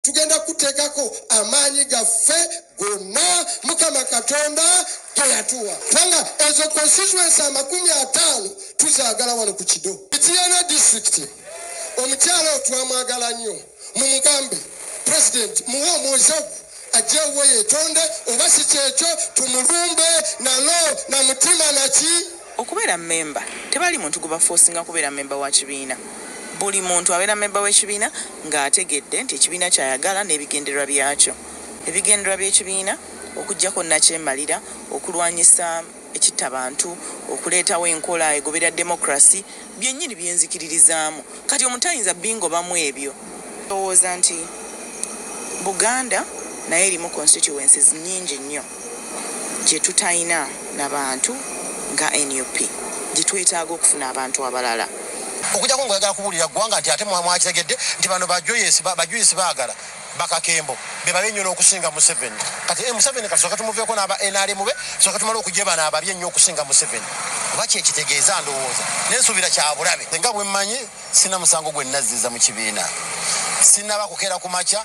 tugenda kuteekako amaanyi gaffe gonna mukama katonda ge yatuwa kubanga ezo constituency amakumi ataano tuzaagala wano ku kido itiyana district omukyala otwamwagala nnyo mu mugambe president muwe omwozagu ajjewo yetonde oba si kyekyo tumulumbe nalo na mutima naki Okubeera mmemba, Tebali muntu gwe bafoosinga kubeera mmemba wa kibiina. Buli muntu abeera mmemba w'ekibiina ng'ategedde nti ekibiina ky'ayagala n'ebigendererwa byakyo. Ebigendererwa by'ekibiina okuggyako nnakyemalira, okulwanyisa ekittabantu, okuleetawo enkola egoberera demokulasi, byennyini bye nzikiririzaamu. Kati omuntu tayinza bingobamu ebyo. Ndowooza nti Buganda nayo erimu constituencies nnyingi nnyo. gyetutayina na bantu nga nup gyetwetaaga okufuna abantu abalala okujako nga oyagala kubuulira ggwanga nti ate mwakitegedde nti bano bajuyisi baagala bakakembo bebabe ennyo n'okusinga museveni kati eh, museveni kati soka tumuveeko n'aba nrm be soka tumala okujebana ababi ennyo okusinga museveni oba kyekitegeeza ndowooza nensuubira kyabulabe nga bwemmanyi sina musango gwe nazziza mu kibiina sinaba kukeera ku makya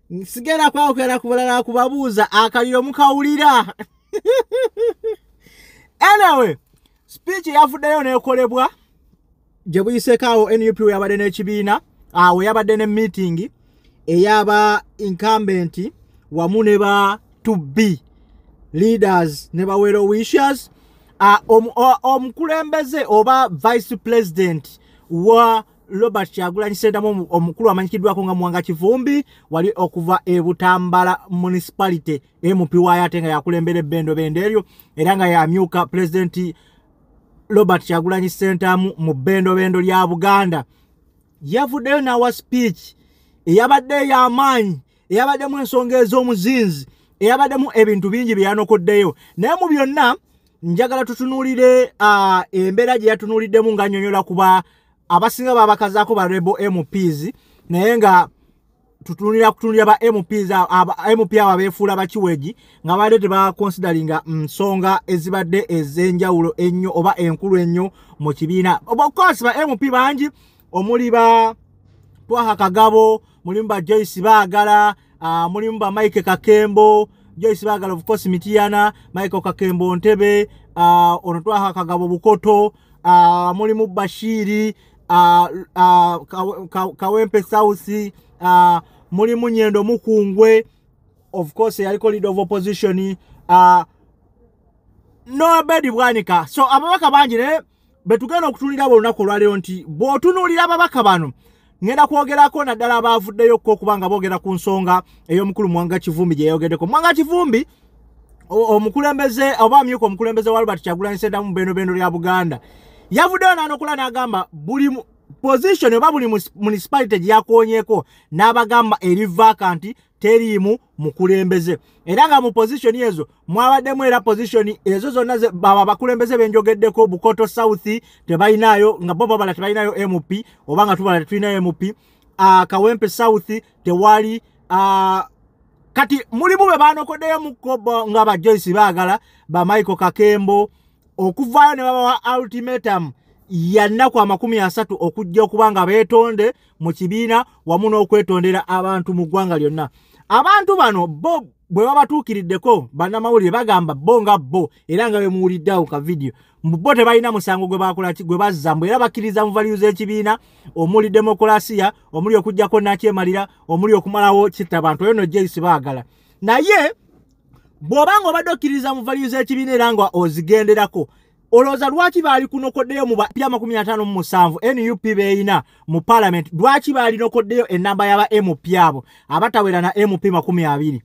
sigenda kwawukera ku bulala kubabuuza akaliro mukawulira anyway speech yavuddeyo nekolebwa gye buyiseko awo nup we yabadde n'ekibiina awo ah, yabadde ne meeting eyaba incumbent wamu ne ba to be leaders ne bawero wishers ah, omukulembeze oba vice president wa Robert Kyagulanyi Ssentamu omukulu amanyikiddwako nga Muwanga Kivumbi wali okuva e Butambala Municipality MP waayo ate nga yakulembera ebbendo bendo eryo era nga yamyuka pulezidenti Robert Kyagulanyi Ssentamu mu bbendo bendo lya Buganda yavuddeyo n'awa speech eyabadde ey'amaanyi eyabaddemu ensonga ez'omuzinzi eyabaddemu ebintu bingi bye yanokoddeyo naye mu byonna njagala tutunuulire uh, embeera gye yatunuuliddemu nga nyonyola kuba abasinga babakazaako ba rebo mps naye nga tutunulira kutunulira ba mps mp abo abeefuula bakiwegi nga baadde tebakonsideringa mm, nsonga ezibadde ez'enjawulo ennyo oba enkulu ennyo mu kibiina obakosi ba mp bangi omuli ba twaha kagabo mulimu ba joyce baagala uh, mulimu ba mike kakembo joyce bagala of course mitiyana michael kakembo ntebe uh, ono twaha kagabo bukoto uh, mulimu bashiri uh, uh, ka, kawempe sausi uh, mulimu nyendo mukungwe of course yaliko leader of opposition uh, nobedi bwanika so ababaka bangi naye no, betugenda okutunulira bo lunaku olwaleero nti bw'otunuulira ababaka bano ngenda kwogerako naddala abaavuddeyo ko okuba nga boogera ku nsonga ey'omukulu mwanga kivumbi gye yayogeddeko mwanga kivumbi omukulembeze oba amyuka omukulembeze wa albert kyagulanyi sendamu bendobendo lya buganda yavuddeyo nanokula n'agamba buli position oba buli municipality gye yakoonyeko n'abagamba erivaaka nti teriimu mukulembeze era nga mu position ezo mwabaddemu era position ezo zonna baba bakulembeze benjogeddeko bukoto south tebalinaayo nga bo babala tebalinayo mp oba nga tubala tetulinayo mp uh, kawempe south tewali uh, kati mulimu be banokoddeyo mukko nga ba joyce baagala ba michael kakembo okuvaayo ne babawa ultimatum yannaku amakumi asatu okujja okuba nga beetonde mu kibiina wamu n'okwetondera abantu mu ggwanga lyonna abantu bano bo bwe babatuukiriddeko bannamawulire bagamba bo nga bo era nga bemuwuliddeawo ka vidiyo mbu bo tebalina musango gwe bakolaki gwe bazza mbu era bakkiriza mu valiyu z'ekibiina omuli demokulasiya omuli okugyako nakyemalira omuli okumalawo kitta bantu oyo no jeyisi baagala naye bw'oba nga obadde okkiriza mu valiyu z'ekibiina era nga ozigenderako olowooza lwaki baali kunokoddeyo mu bapya makumi ataano mu musanvu nup beeyina mu palamenti lwaki baalinokoddeyo ennamba yaba mp abo abatawera na mp makumi abiri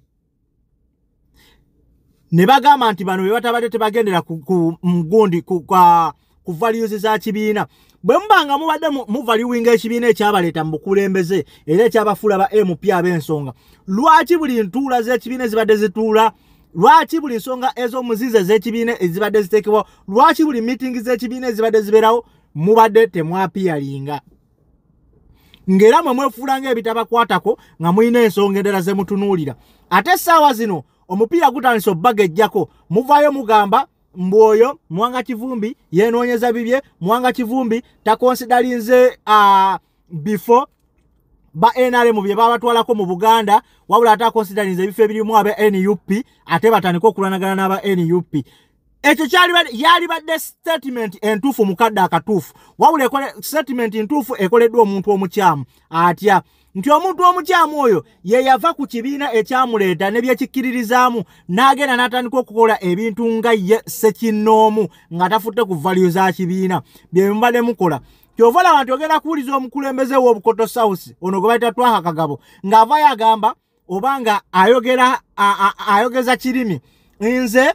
ne bagamba nti bano be batabadde tebagendera ku mugundi ku values za kibiina bwe muba nga mubadde muvaluwinga ekibiina ekyabaleeta mu bukulembeze era ekyabafuula ba mp ab'ensonga lwaki buli ntuula z'ekibiina ezibadde zituula lwaki buli nsonga ez'omuzizi ez'ekibiina ezibadde ziteekebwawo lwaki buli miitingi z'ekibiina ezibadde zibeerawo mubadde temwapiyalinga ng'era mwe mwefuula ng'ebitabakwatako nga mulina ensonga endala ze mutunuulira ate essaawa zino omupiira gutandise obbaga ejjako muvaayo mugamba mbu oyo mwanga kivumbi yenoonyeza bibye mwanga kivumbi takonsidalinze uh, before ba nrm bye babatwalako mu buganda wabula ate akonsiderinza ebifo ebirimu aba nup ate batandika okulwanagana n'aba nup ekyo yalibadde statement entuufu mukadde akatuufu wabula statement ntuufu ekoleddwa omuntu omukyamu atya nti omuntu omukyamu oyo ye yava ku kibiina ekyamuleeta ne byekikkiririzaamu n'agenda n'atandika okukola ebintu nga ye sekinnoomu nga tafutte ku valyo za kibiina bye mubadde mukola kyova olaba nti ogenda kuwuliza omukulembeze w'obukoto south ono gwe bayita twaha kagabo ng'avayo agamba oba nga ayogera ayogeza kirimi nze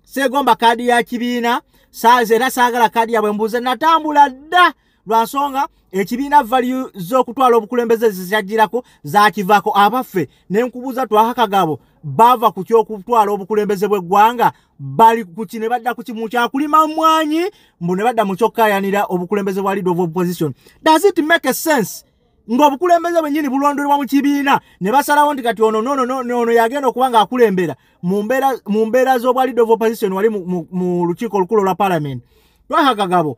seegomba kaadi ya kibiina saazi era saagala kaadi yabwe mbuuze natambula dda lwa nsonga ekibiina valiyu z'okutwala obukulembeze zikyajjirako zakivaako abaffe ne nkubuuza twahakagabo baava ku ky'okutwala obukulembeze bw'eggwanga bali kuki ne badda kuki mu kyakulima mwanyi mbu ne badda mu kyokkayanira obukulembeze bwa leader of opposition does it make a sense ng'obukulembeze bwennyini bulondolebwa mu kibiina ne basalawo nti kati ono noono yagenda okuba ng'akulembera mu mbeera z'obwa leader of opposition wali mu lukiiko olukulu olwa parliament twahagagabo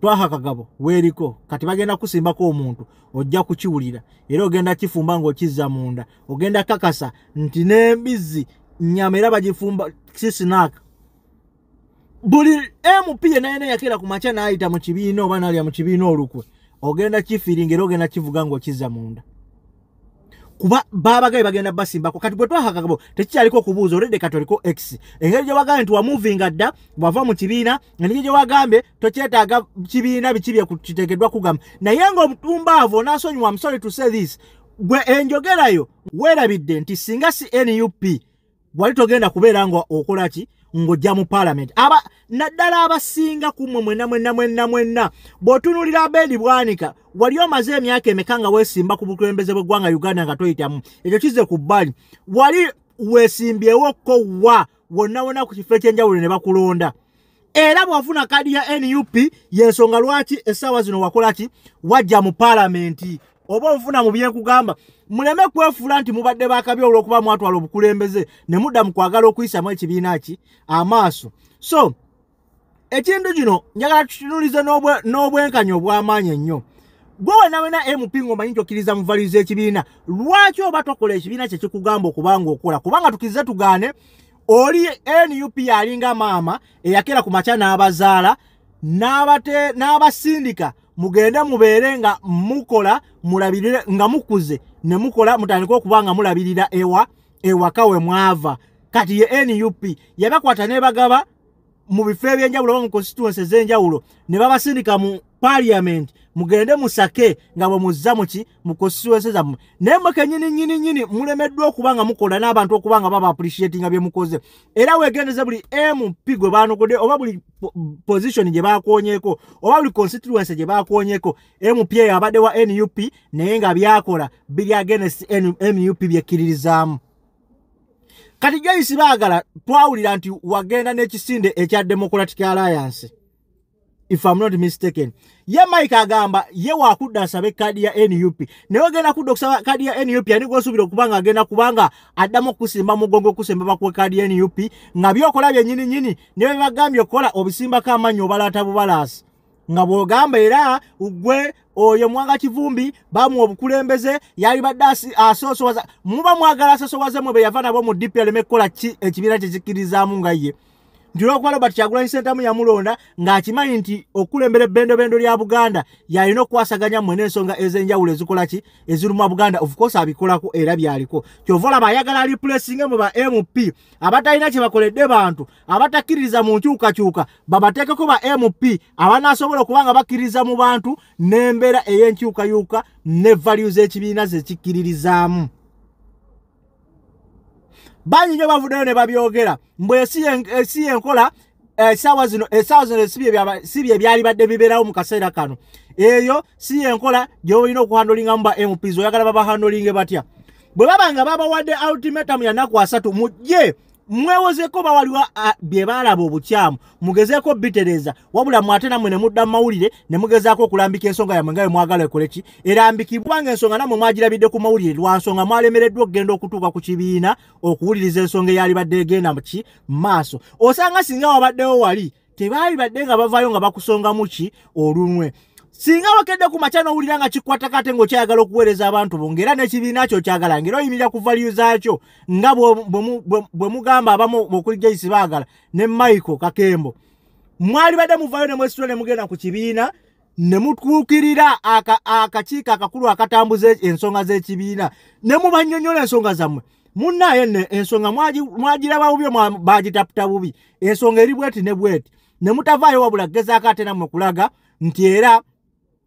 twaha kagabo weeriko kati bagenda kusimbako omuntu ojja kukiwulira era ogenda kifumba ng'okizza munda ogenda kakasa nti n'embizzi nyama era bagifumba sisinaaka buli mp yenayena yakeera ku makya n'ayita mu kibiina oba nalya mu kibiina olukwe ogenda kifiiringa era ogenda kivuga ng'okizza munda kuba babagaye bagenda basimbako kati bwe twahakakabo tekikyaliko okubuuza olede kati oliko x engeri gyewagambye nti wamuvinga dda bwava mu kibiina engeri gyewagambye tokyetaaga kibiina biki byekiteekeddwa kugamba naye ngaomutumbaavo onasonyiwa msori to say this gwe enjogerayo weerabidde nti singa si nup wali togenda kubeera nga okola ki ng'ojja mu paalamenti aba naddala abasinga ku mmwe mwena mwena mwena mwena bw'otunuulira abeedi bwanika wali omaze emyaka emeka nga weesimba ku bukulembeze bw'eggwanga uganda nga toyitamu ekyo kize ku bbali wali weesimbyewo ko wa wonna wonna ku kifo ekyenjawulo ne bakulonda era bwafuna kadi ya nup yensonga lwaki essaawa zino wakolaki wajja mu palamenti oba onfuna mu byekugamba muleme kwefuula nti mubadde bakabi olwokuba mwatwala obukulembeze ne mudda mu kwagala okuyisamu ekibiina ki amaaso so ekintu kino njagala tukinulize n'obwenkanya obw'amaanyi ennyo gwe wena wena mp ngaomanyi nti okkiriza muvaliza ekibiina lwaki oba tokola ekibiina kyekikugamba okubanga okola kubanga tukirize tugaane oli nup yalinga maama eyakera ku makya n'abazaala n'abasindika mugende mubeere nga mukola mulabirire nga mukuze ne mukola mutandika okuba nga mulabirira ewa ewaka we mwava kati ye nup yabakwata nebagaba mu bifo ebyenjawulo oba mu constituency ezenjawulo ne babasindika mu parliament mugende musake nga bwe muzza muki mu constituency zammwe naye mwe kenyini nyini nyini mulemeddwa okuba nga mukola n'abantu okuba nga baba appreciatinga bye mukoze era wegendeze buli mp gwe baanokodde oba buli position gye bakoonyeko oba buli constituency gye bakoonyeko mp eyo abadde wa nup naye nga byakola biri agenesi nup byekkiririzaamu kati joyce baagala twawulira nti wagenda n'ekisinde ekya democratic alliance if am not mistaken ye mike agamba ye wakudda asabe kadi ya nup naye ogenda kudda okusaba kadi ya nup ani gwosuubira okuba nga agenda kubanga addamu okukusimba mugongo okukusimba bakuwe kadi ya nup nga byokola byenyini nyini naye bebagambye okukola obisimbako amannyi obalaata bubalaasi nga bwogamba era gwe oyo mwanga kivumbi bamuwa obukulembeze yalibadde asosowaza muba mwagala asosowaze mwe beyava nabo mu dp aleme kukola ki ekibiina kyekikkirizaamu nga ye nti olwokuba robert kyagulanyi sentamu yamulonda ng'akimanyi nti okukulembera ebbendobendo lya buganda yalina okukwasaganya mwe n'ensonga ez'enjawulo ezikola ki eziruma buganda ofcourse abikolako era byaliko kyova olaba ayagala replacing mu ba mp abatalina kye bakoledde bantu abatakkiririza mu nkyukakyuka babateekeko ba mp abanaasobola okuba nga bakkiririza mu bantu n'embeera ey'enkyukayuka ne value z'ekibiina zekikkiririzaamu bangi nyo bavuddeyo ne babyogera mbu esi yenkola esaawa eh, zino esaawa eh, zino si bye byali badde bibeerawo mu kaseera kano eyo si yenkola gyolina okuhandolingamu ba mps oyagala babahandolinge batya bwe baba nga babawadde ultimatum yanaku asatu mujje mwewozeko oba waliwo bye baalaba obukyamu mugezeeko bitereza wabula mwate namwe ne mudda mu mawulire ne mugezaako okulambika ensonga yamwe nga bwe mwagala ekole ki erambikibwa nga ensonga namwe mwagirabidde ku mawulire lwa nsonga mwalemereddwa okugenda okutuuka ku kibiina okuwuliriza ensonga eyalibadde egenda mu ki maaso osanga singa wabaddewo wali tebaali badde nga bavaayo nga bakusongamu ki olunwe singa wakedde ku makya n'owulira nga kikwatako ate ng'okyayagala okuweereza abantu bo ng'era n'ekibiina kyo kyagala ng'era oyimirira ku valiyu zaakyo nga bwe mugamba abamu okuli jaisi baagala ne michael kakembo mwali badde muvaayo ne mwesitula ne mugenda ku kibiina ne mutuukirira akakiiko akakulu akatambuza ensonga z'ekibiina ne mubanyonyola ensonga zammwe munnaye ne ensonga mwagiraba bubi bagitaputa bubi ensonga eri bweti ne bweti ne mutavaayo wabula gezaako ate nammwe kulaga nti era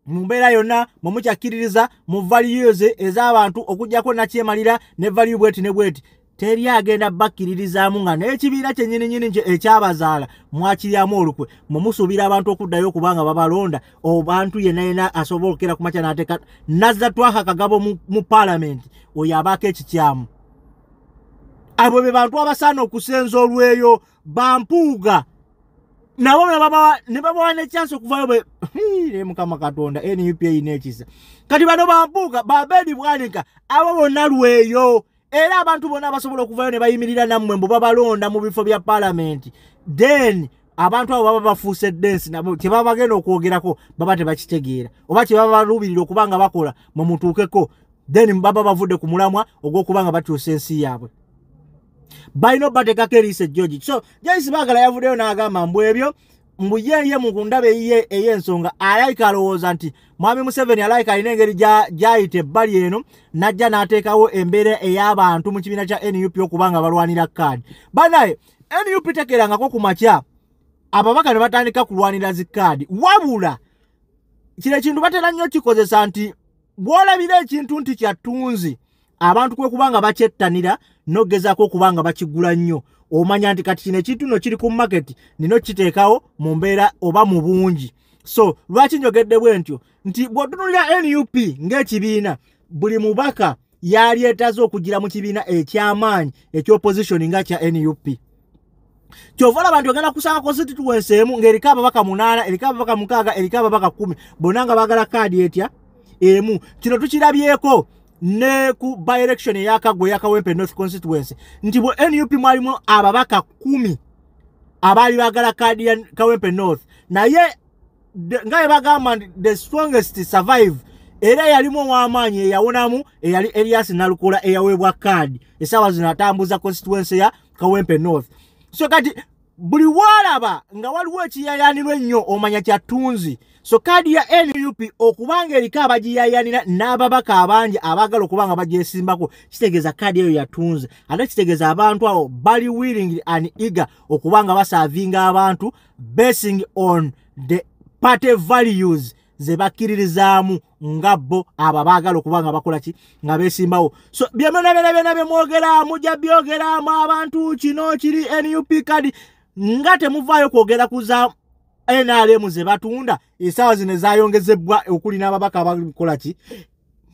mu mbeera yonna mwe mukyakkiririza mu valiyuzi ez'abantu okugyako nakyemalira ne valiyu bweti ne bweti teri agenda bakkiririzaamu nga n'ekibiina kyenyininyini nje ekyabazaala mwakiryamu olukwe mumusuubira abantu okuddayo okubanga babalonda obantu yena yena asobola okukera ku makya nateeka nazza twaha kagabo mu paalamenti oyo abaako ekikyamu abo be bantu abasaana okusenza olweyo bampuuga nabo ne babawa nekyansi okuvayo be ne mukama katonda nup eyina ekisa kati bano bampuuga babedi bwanika abo bonna lweyo era abantu bona abasobola okuvayo ne bayimirira nammwe mbu babalonda mu bifo bya palamenti then abantu abo baba bafuuse densi nabo kyebaba bagenda okwogerako baba tebakitegeera oba kyebaba baluubirira okuba nga bakola mwe mutuukeko then baba bavudde ku mulamwa ogw'okuba nga bakyusa ensi yaabwe balina obateekako eriisa ejjoji so joyce baagala yavuddeyo n'agamba mbu ebyo mbu yeye mu kundaba eyiye ey'ensonga alayika alowooza nti mwami museveni alayika alina engeri gyayita ebbali eno n'ajja n'ateekawo embeera ey'abantu mu kibiina kya nup okuba nga balwanira kaadi banaye nup tekerangako ku makya ababaka ne batandika kulwanira zi kaadi wabula kino ekintu batera nnyo kikozesa nti bw'olabira ekintu nti kyattunzi abantu kwe kuba nga bakyettanira n'ogezaako okuba nga bakigula nnyo omanya nti kati kino ekintu no kiri ku maketi nino kiteekawo mu mbeera oba mu bungi so lwaki njogedde bwe ntyo nti bw'otunulira nup ng'ekibiina buli mubaka yali etaze okugira mu kibiina eky'amaanyi eky'opposition nga kya nup kyova olaba nti ogenda kusanga constituency emu ng'eriko ababaka munaana eriko ababaka mukaaga eriko ababaka kumi bonna nga baagala kaadi etya emu kino tukirabyeko ne ku by election eyakagwa eyakawempe north constituency nti bwe nup mwalimu ababaka kumi abaali bagala kaadi ya kawempe north naye nga yebagamba nti the strongest survive era yalimu ow'amaanyi eyawonamu eyali elias nalukula eyaweebwa kaadi esaawa zino atambuza constituency ya kawempe north so kati buli walaba nga waliwo ekiyayanirwa ennyo omanya kyattunzi so kaadi ya nup okuba nga eriko abagiyayanira n'ababaka abangi abaagala okuba nga bagyesimbako kitegeeza kaadi eyo yatunze ate kitegeeza abantu abo bali willing and eager okuba nga basaavinga abantu basing on the party values ze bakkiririzaamu nga bo abo abaagala okuba nga bakola ki nga beesimbawo so bye munabyona byona bye mwogera mujja byogeramu abantu kino kiri nup kadi nga temuvaayo kwogera kuza nrm ze batunda esaawa zino ezayongezebbwa okuli n'ababaka abakola ki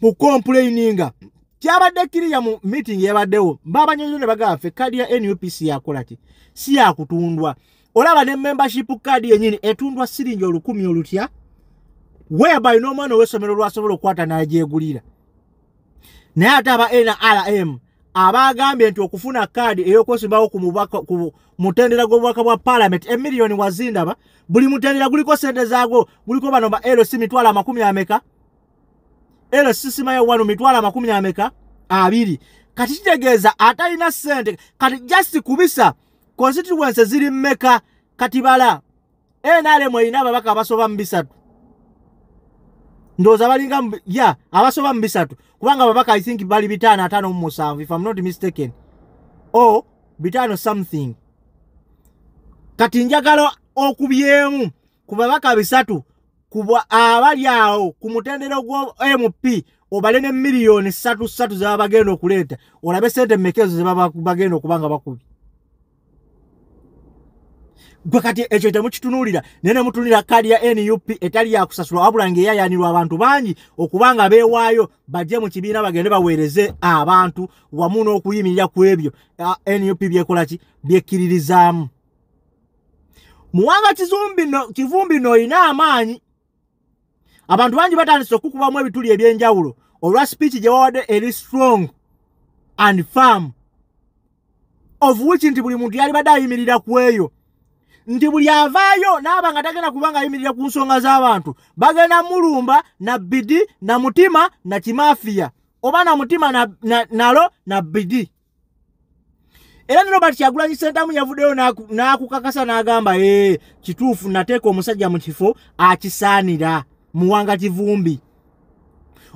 mu complaininga kyabadde kiriya mu meeting yabaddewo babanyonyo ne bagamba ffe kadi ya nup si yakola ki si yakutundwa si olaba ne membership card yenyini etundwa siringi olukumi olutya whereby n'omwana ow'essomero lwasobola okukwata n'agyegulira naye ate aba nrm abaagambye nti okufuna kaadi ey'okwesimbawo ku mutendera gw'obubaka bwa palamenti emiliyoni wazindaba buli mutendera guliko sente zaagwo guliko bano ba lc mitwalo amakumi ameka lc simayo wano mitwalo amakumi ameka abiri kati kitegeeza atalina sente kati just kubisa constituency ziri mmeka kati bala nrm erina ababaka abasoba mu bisatu ndowooza balinga ya abasoba mu bisatu kubanga ababaka i think bali bitaano ataano mu musanvu if am not mistaken o bitaano something kati njagala okubyemu ku babaka bisatu kubwa abali awo ku mutendero gwa MP obale ne milioni satu satu za bagenda okuleeta olabe sente mekezo ze baba bagenda okubanga bakubi gwe kati ekyo temukitunulira naye ne mutunulira kaadi ya nup etali yakusasula wabula nga eyayanirwa abantu bangi okuba nga beewaayo bajje mu kibiina bagende baweereze abantu wamu n'okuyimirira ku ebyo nup byekolaki byekkiririzaamu muwanga kizumbi no kivumbi no ina amaanyi abantu bangi batandise okukubamu ebituli ebyenjawulo olwa speech gye wawadde eri strong and farm of which nti buli muntu yalibadde ayimirira ku eyo nti buli avaayo naaba nga tagenda kuba nga ayimirira ku nsonga z'abantu bagenda mulumba na bidi na mutima na kimafiya oba na mutima nalo na bidi na era ne robert kyagulanyi sentamu yavuddeyo n'akukakasa n'agamba ee eh, kituufu nateeka omusajja mu kifo akisaanira muwanga kivumbi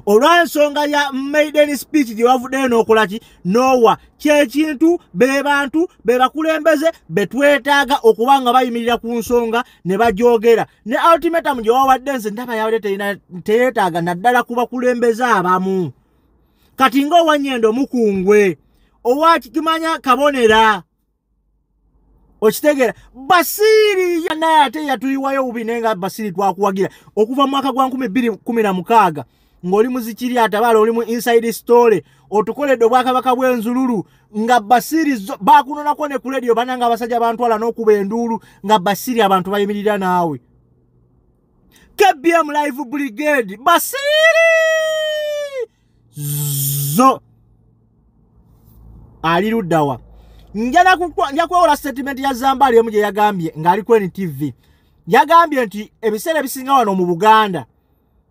olw'ensonga ya maiden speech gye wavuddeyo n'okola ki noowa kyekintu be bantu be bakulembeze be twetaaga okuba nga bayimirira ku nsonga ne bagyogera ne ultimatum gye wawadde nze ndaba yabadde teyeetaaga naddala ku bakulembeze abamu kati nga owanyendo mukungwe owakimanya kabonera okitegeera basiiri naye ate yatuyiwayo bubi naye nga basiiri twakuwagira okuva mu mwaka gwa 216 ng'oli muzikiri atabaala oli mu inside story otukoledde obwakabaka bw'enzululu nga basiiri bakunonako ne ku lediyo bananga abasajja bantwala n'okuba enduulu nga basiiri abantu bayimirira naawe kbm live brigade basiri zo ali luddawa nja kwewola statement ya zambaali emu gye yagambye ng'ali ku ntv yagambye nti ebiseera ebisinga wano mu buganda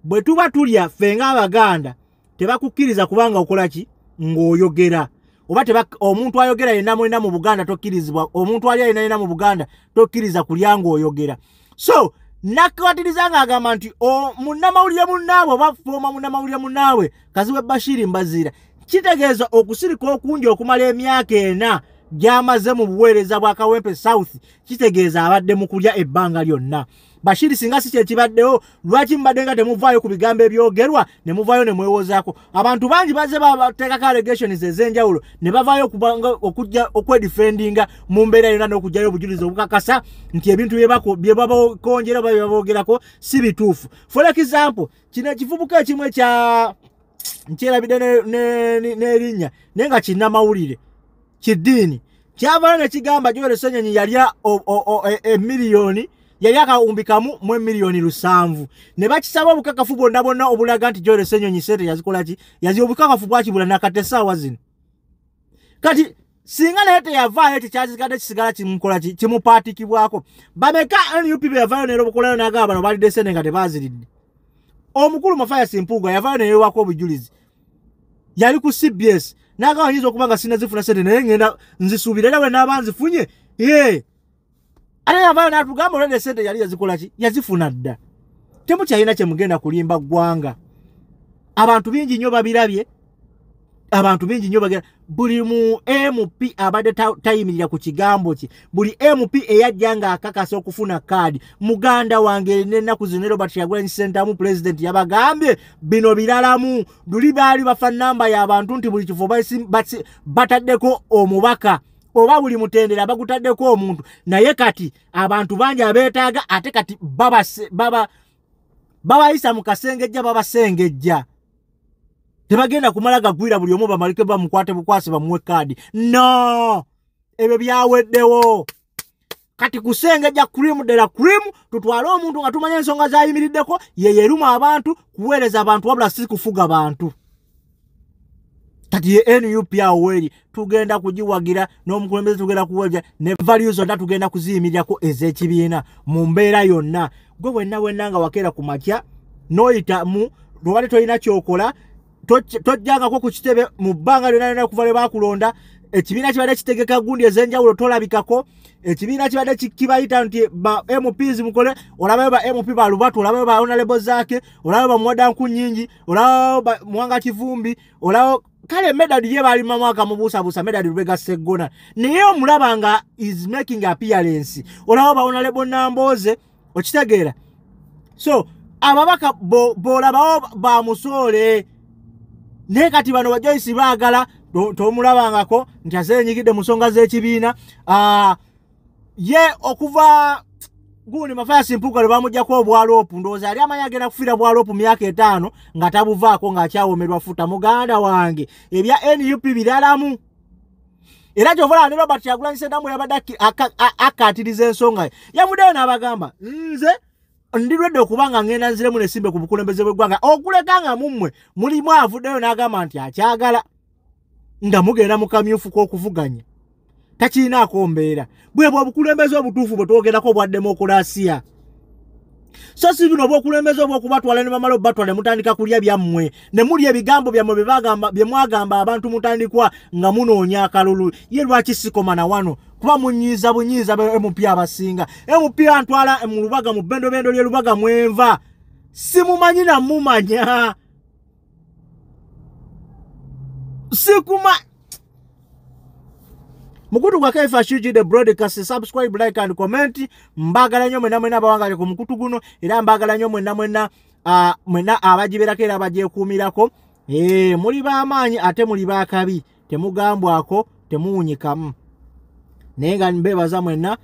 bwe tuba tulya ffe ng'abaganda tebakukkiriza kubanga okola ki ng'oyogera oba omuntu ayogera yenna mulina mu buganda tokkirizibwa omuntu ali alina yena mu buganda tokkiriza kulya ng'oyogera so nakwatiriza ng'agamba nti munnamawulire munnaabwe oba fooma munnamawulire munnaabwe kaziwe bashiri mbaziira kitegeeza okusirika okungi okumala emyaka ena gy'amaze mu buweereza bwa kawempe south kitegeeza abadde mu kulya ebbanga lyonna bashiri singa si kyekibaddewo lwaki mubadde nga temuvaayo ku bigambo ebyogerwa ne muvaayo ne mwewozaako abantu bangi bazze bateekako allegations ez'enjawulo ne bavaayo okujja okwedifendinga mu mbeera yonna n'okugjayo obujulizi obukakasa nti ebintu bye babakonjera oba bye babogerako si bituufu for example kino ekivubuka ekimu ekya nkyerabidde n'erinnya naye nga kinnamawulire kiddiini kyavaayo ne kigamba joel senyenyi yalya emiliyoni e, yali akawumbi kamu mu emiliyoni lusanvu ne bakisaba obukakafu bwonna bwonna obulaga nti joel senyonyi sente yazikolaki yazi obukakafu bwakibula nakati esaawa zino kati singa naye teyavaayo ekyo kyakigadde kisigala kimukola kimupaatikibwako bameka nup beyavaayo neero bukolayo nagaba bano balidde sente nga tebaziridde omukulu mafayasi mpuuga yavaayo neyewako obujulizi yali ku cbs nagaba nyinza okuba nga sinazifuna sente naye ngenda nzisuubira era bwe naaba nzifunye ee ate yavayo natugamba olwede esente yali yazikolaki yazifuna dda temukyalina kyemugenda kulimba ggwanga abantu bingi nnyo babirabye abantu bingi nnyo bagera buli mu mp abadde tayimirira ku kigambo kye buli mp eyajja ng'akakasa okufuna kaadi muganda wange nenaku zino robert yagulanyi sentamu pulezidenti yabagambye bino biralamu luli baali bafa namba y'abantu nti buli kifo bataddeko omubaka oba buli mutendera bagutaddeko omuntu naye kati abantu bangi abeetaaga ate kati babayisa mu kasengejja babasengejja tebagenda kumala gagwira buli omu bamalike bamukwate bukwasi bamuwe kaadi no ebyo byaweddewo kati kusengejja cream dela cream tutwale omuntu nga tumanya ensonga zayimiriddeko yeyeruma abantu kuweereza abantu wabula si kufuga bantu kati ye nup aweri tugenda kugiwagira n'omukulembeze tugenda kuwagira ne value zonna tugenda kuziyimirirako ez'ekibiina mu mbeera yonna gwe wenna wenna nga wakeera ku makya n'oyitamu lwobadde tolina kyokola tojjangako ku kitebe mu bbanga lyona lyona okuva lwe bakulonda ekibiina kibadde kitegeka gundi ezenjawulo tolabikako ekibiina kibadde kibayita nti ba mps mukole olabayo ba mp balubatu olabayo ba onalebo zaake olabayo bamuwadanku nyingi olabayo muwanga kivumbi olabayo kale medad ye bali mamwaka mubusabusa medad lubega seggona naye omulaba nga is making appearance olabayo ba onalebo namboze okitegeera so ababaka bolabawo bo ba musoole naye kati bano bajoyisi baagala tomulabangako nti aze enyigidde mu nsonga z'ekibiina ah, ye okuva gundi mafayasi mpuuka lwe bamugjaku obwaloopu ndowooza yali amanyi agenda kufiira bwaloopu myaka etaano nga tabuvaako ng'akyawomerwa futa muganda wange ebya nup biralamu era kyova olaba ne robert kyagulanyi sedamu yabadde akkaatiriza ensonga ye yavuddeyo n'abagamba nze ndirwedde okuba nga ngenda nziremu nesimbe ku bukulembeze bw'eggwanga okuleka nga mummwe mulimu avuddeyo n'agamba nti akyagala nga mugenda mu kamyufu k'okuvuganya takirinaako mbeera bwebwe obukulembeze obutuufu bwe twogerako obwa demokulasiya so si bino obwokulembeza obwokubatwala ne bamala obubatwala ne mutandika kulya byammwe ne mulya ebigambo byammwe bye mwagamba abantu mutandikwa nga munoonya akalulu ye lwaki sikoma na wano kuba munyiiza bunyiiza mp abasinga mp antwala mu lubaga mu bendobendo lye lubaga mwenva simumanyi namumanya sikuma mukutu gwa kfhg the broadcast subscribe like and comment mbagala nyo mwena mwena abawangale ku mukutu guno era mbagala nyo mwena mwena uh, mwena abagiberako era abagyekuumirako e, muli b'amaanyi ate muli b'akabi temugambwako temuwunyikamu naye nga mbebaza mwenna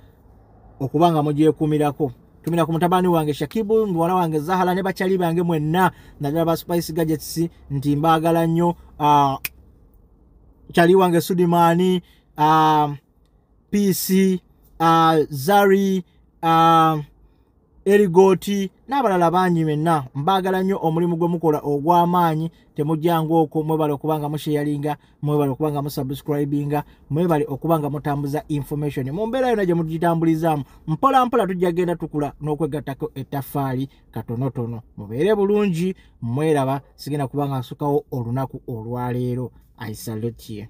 okuba nga mugyekumirako tumira ku mutabani wange shakibu muwala wange zahala ne bakyali bange mwenna naddala ba spice gadgets nti mbaagala nnyo ah, kyali wange sudimaani ah, pc ah, zari erigooti n'abalala bangi menna mbaagala nnyo omulimu gwe mukola ogw'amaanyi temujjanga okwo mwebale okuba nga musheyalinga mwebale okuba nga musubscribinga mwebale okuba nga mutambuza information mu mbeera yona gye mugitambulizaamu mpola mpola tujja genda tukula n'okwegattako ettaffaali katonotono mubeere bulungi mweraba sigenda kuba nga nsukawo olunaku olwaleero aisalutye